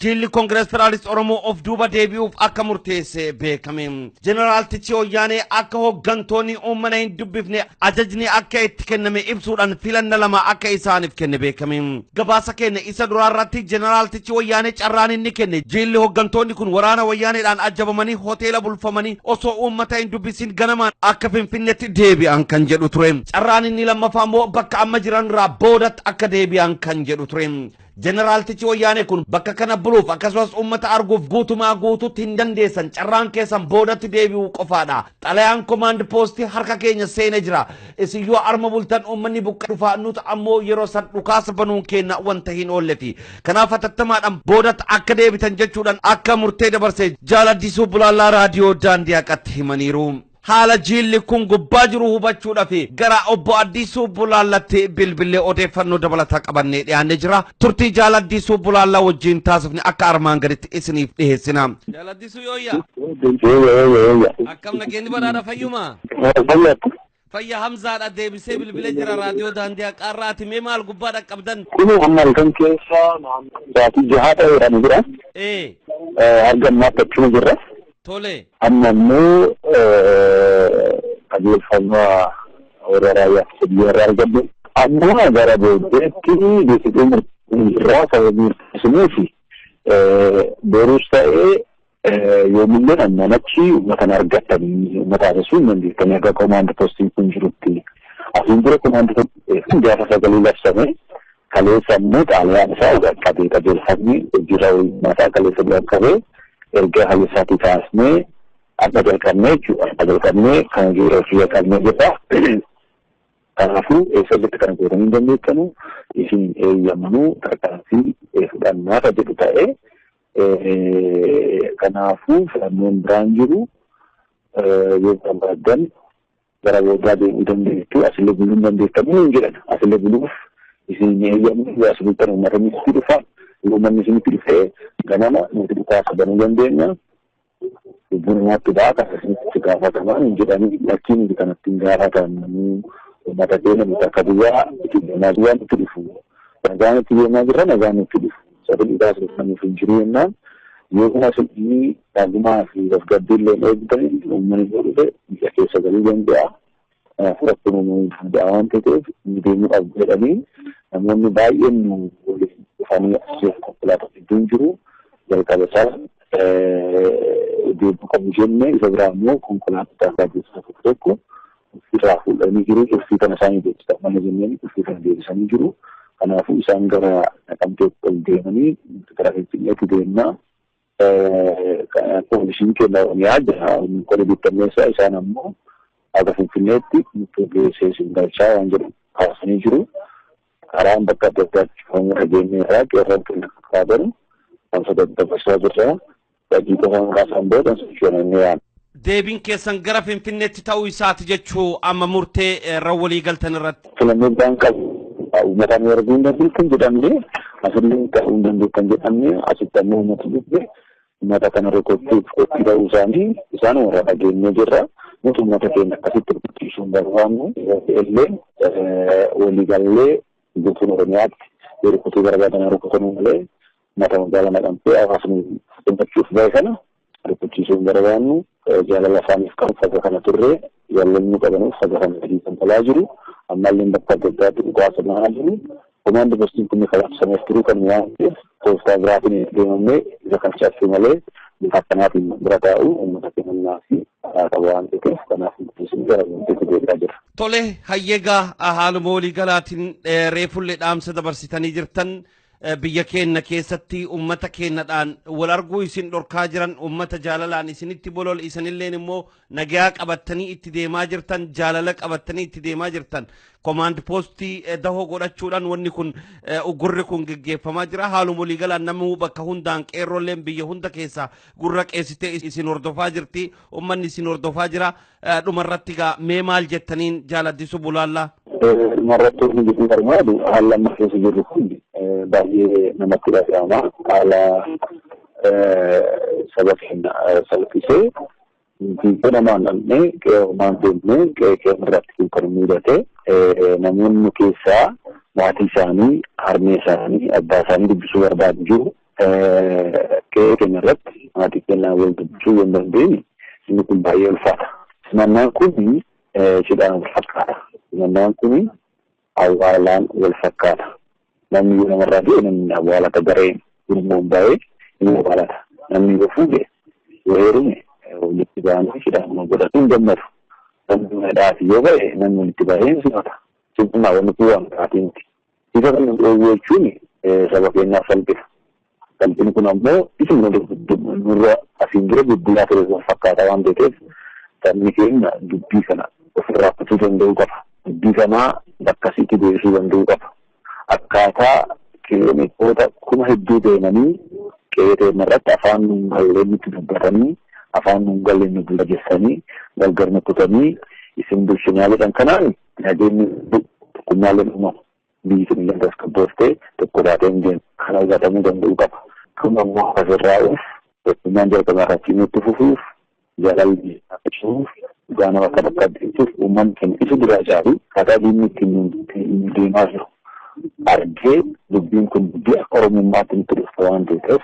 Jiilli Koongirees Federaalist Oromoo of duuba deebi'uuf akka murteesse beekame. Jeneraal Tichii Oyyaanee akka hooggantoonni uummana hin dubbifne ajajni akka itti kenname ibsuudhaan filanna lama akka isaaniif kenne beekame. Gabaasa keenya isa duraa irratti Jeneraal Tichii Oyyaanee carraan inni kenne jiilli hooggantoonni kun waraana Wayyaaneedhaan ajjabamanii hoteela bulfamanii osoo uummata hin dubbisin ganamaan akka Finfinneetti deebi'an kan jedhu ture. Carraan inni lammaffaa immoo bakka amma jiran irraa boodatti akka deebi'an kan jedhu ture. Jeneraaltichi Wayyaanee kun bakka kana buluuf akkasumas uummata arguuf guutumaa guutuutti hin dandeessan carraan keessan boodatti deebi'uu qofaadha. Xalayaan komaand poostii harka keenya seene jira. Isin yoo arma bultan uummanni buqqa'ee dhufaa nuti ammoo yeroo san dhukaasa banuun keenya wanta hin oolleti. Kanaaf hatattamaadhaan boodatti akka deebitan jechuudhaan akka murtee dabarse Jaal Addisuu Bulaallaa Raadiyoo Daandii Haqatti himaniiru. Haala jiilli kun gubbaa jiru hubachuudhaaf gara obbo Addisuu Bulaallatti bilbillee odeeffannoo dabalataa qabannee dhiyaannee jira. Turtii Jaal Addisuu Bulaallaa wajjin taasifne akka armaan gaditti isiniif dhiheessina. Jaal Addisuu yooyya. Yooyya yooyya yooyya. Akkam nageenyi badhaadha fayyuma. Fayyadha. Fayya Hamzaadha deebisee bilbilee jira raadiyoo daandii haqaarraa ati mee maal gubbaa dhaqqabdan? Kuni amma halkan keessa naannoo sa'aatii jahaa ta'eedhaan jira. Ee. Argammaa takkuma jirra. tole. Amma immoo qajeelfama warra raayyaa ittisa biyyaa irraa argadhe. Amma gara booddeetti deebitee murtii irraa sababii murteessinuuf boruus ta'ee yoomillee ammaan achi uummata hin argattanii uummata haasofsiisuu hin dandeettanii akka komaandi postiin kun jirutti. Asiin dura komaandi postiin gaafa sagalee labsame Kaleessa ammoo xalayaan isaa qaqqabee qajeelfamni hojiirra oolmaa isaa kaleessa nu qaqqabee erga kaleessaatii kaasnee akka jalqabnee jechuudha. Akka jalqabnee kan yeroo kiyya qabnee jirra. Kanaafuu eessatti kana gootanii hin dandeettanu isin eeyyamnuu tarkaanfii fudhannaa kan jedhu ta'ee kanaafuu filannoon biraan jiru yoo barbaadan Gara boodaa deemuu dandeessu, asillee buluu hin dandeessan nuun jedhan. Asillee buluuf isin hin eeyyamnu, yoo as bultan uummatni isinitti dhufa, yoo uummatni isinitti dhufe ganama nuti dhukaasa banuu dandeenya. Lubbuun namaatti ba'a, kana isinitti itti gaafatamaa nuun jedhanii lakkii nuti kanatti hin gaafatamnu. Uummata keenya nuti akka biyyaa itti deemaa jirra nutti dhufu. Nagaan itti deemaa jirra nagaan nutti dhufu. Sagalee baasuuf namni hin jiru jennaan yooma fedhii nagumaa fi tasgabbii illee hin eegdan uummanni yoo dhufe biyya keessa galuu danda'a. Kanaafuu rakkoo uumamuu danda'a waan ta'eef nu deemuu qabdu jedhanii namoonni baay'een nu waliin dhufanii asirratti konkolaataa hedduun jiru. Jalqaba isaa deemuu qabu jennee isa biraa immoo konkolaattota irraa keessaa tokko tokko irraa fuudhanii jiru. Turfii kana isaan hojjechaa mana jenneen turfii kana deebisanii jiru. Kanaafuu isaan gara Naqamteetti ol deemanii gara Finfinneetti deemnaa poolisiin keenya Oromiyaa jira. Qori bittanneessaa isaan ammoo haga Finfinneetti nutti geessee isin galchaa waan jedhu kaasanii jiru. Karaan bakka adda addaatti cufamuu dhageenye irraa qeerroon keenya karaa baru wanta daddabarsaa jirra. Badii qofa maqaa isaan booda sochoonannee yaadna. Deebiin keessan gara Finfinneetti ta'uu isaati jechuu amma murtee irra walii galtan irratti. Filannoo biraan qabu. Uummataan yoo arguu hin dandeenye kan jedhamne asillee ta'uu hin dandeenye kan jedhamne asitti ammoo uummata dhufe uummata kana rukuchuuf qophii ta'uu isaanii isaan warra dhageenyee jirra. Nuti uummata keenya akkasitti rukuchiisuu hin barbaannu. Illee waliigallee guutuun Oromiyaatti yoo rukutuu barbaadan rukutanuu malee Uummata magaalaa Naqamtee hawaasni gammachuuf bahe kana rifachiisuu hin barbaannu. Jaalala isaaniif qabu faga kana turre. Jaalala nu qabanuuf faga kana gadi galaa jiru. Ammallee bakka adda addaatti dhukaasa banaa jiru. Komaandi postiin kun kabachiisameef turuu kan waan ta'eef tooftaa biraatiin deemamnee isa kan cabsuu malee bifa akkanaatiin bira taa'u uummata kennaa fi karaa qaba waan ta'eef kanaaf murteessuun gara murteetti deebi'aa jira. Tole hayyegaa haaluma waliigalaatiin reefullee dhaamsa dabarsitanii jirtan Biyya keenna keessatti ummata keennadhaan wal arguu isin dhorkaa jiran, ummata jaalalaan isinitti bolole, isinilleen immoo nagayaa qabattanii itti deemaa jirtan, jaalala qabattanii itti deemaa jirtan. Komaand poostii dahoo godhachuudhaan wanni kun uggurri kun geggeeffamaa jira. Haaluma waliigalaan namuu bakka hundaan qeerroolleen biyya hunda keessaa gurra qeessitee isin hordofaa jirti. Ummanni isin hordofaa jira. Dhumarratti gaa mee maal jettaniin jaal Addisuu Bulaallaa? Dhumarratti wanti jechuun barbaadu haala amma keessa jirru kun baay'ee namatti dhaga'ama. Haala saba keenya salphisee fiigee namaan dhabnee qe'eemaan deemnee qe'ee keenya irratti kun kan mudate namoonni keessaa maatii isaanii, harmee isaanii, abbaa isaanii dubbisuu barbaadu jiru. Qe'ee keenya irratti maatii keenyaan wal dubbisuu yoo hin dandeenye inni kun baay'ee ulfaata. Simannaan kun cidhaan wal fakkaata. Simannaan kun awwaalaan wal fakkaata. Namni yoo namarraa du'e namni awwaalata gareen gurmuun ba'ee ni awwaalata. Namni yoo fuudhe yoo heerume walitti ba'anii cidhaan wal godhatu hin gammadu. Namni mana hidhaati yoo ba'e namni walitti ba'ee hin simata. Simannaa wanti waan biraati miti. Isa kana dhoowwuu jechuun saba keenyaaf salphina. Salphini kun ammoo isuma nurra asiin dura guddinaa ture wal fakkaataa waan ta'eef sabni keenya dubbii kana ofirraa kutuu danda'uu qaba. Dubbii kanaa bakka isiitti deebisuu danda'uu qaba. Akkaataa kiiloomeetira kuma hedduu deemanii qe'ee teenya irratti afaan nuun galleen nutti dubbatanii afaan nuun galleen nu bulleessanii gargar nu kutanii isin bulchinaa jedhan kanaan Nageenyi tokkummaaleen uumama. Biyyi keenyallee tasgabboofte tokko taatee hin deemtu. Kana hubatamuu danda'uu qaba. Kun ammoo akka sirraa'uuf tokkummaan jalqabaa irraa cimee itti fufuuf jaalalli akka cimuuf dhugaa nama akka bakka deemtuuf uummanni keenya isa duraa caalu kataa diinni ittiin nu deemaa jiru argee dubbiin kun dubbii akka oromummaatti nutti dhufte waan ta'eef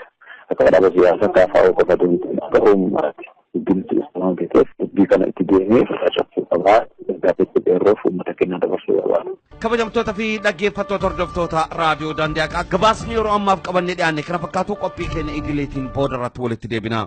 akka dhaaba siyaasaa kaafaa qofa deemtu akka oromummaatti. Guddina Filisxeem waan beekeef dubbii kana itti deemee facaasuu qaba. Ergaa beekuu dheerroof uummata keenyaa dabarsuu barbaada. Kabajamtoota fi dhaggeeffattoota hordoftoota raadiyoo daandii haqaa gabaasni yeroo ammaaf qabannee dhiyaanne kana fakkaatu qophii keenya idileetiin booda irratti walitti deebina.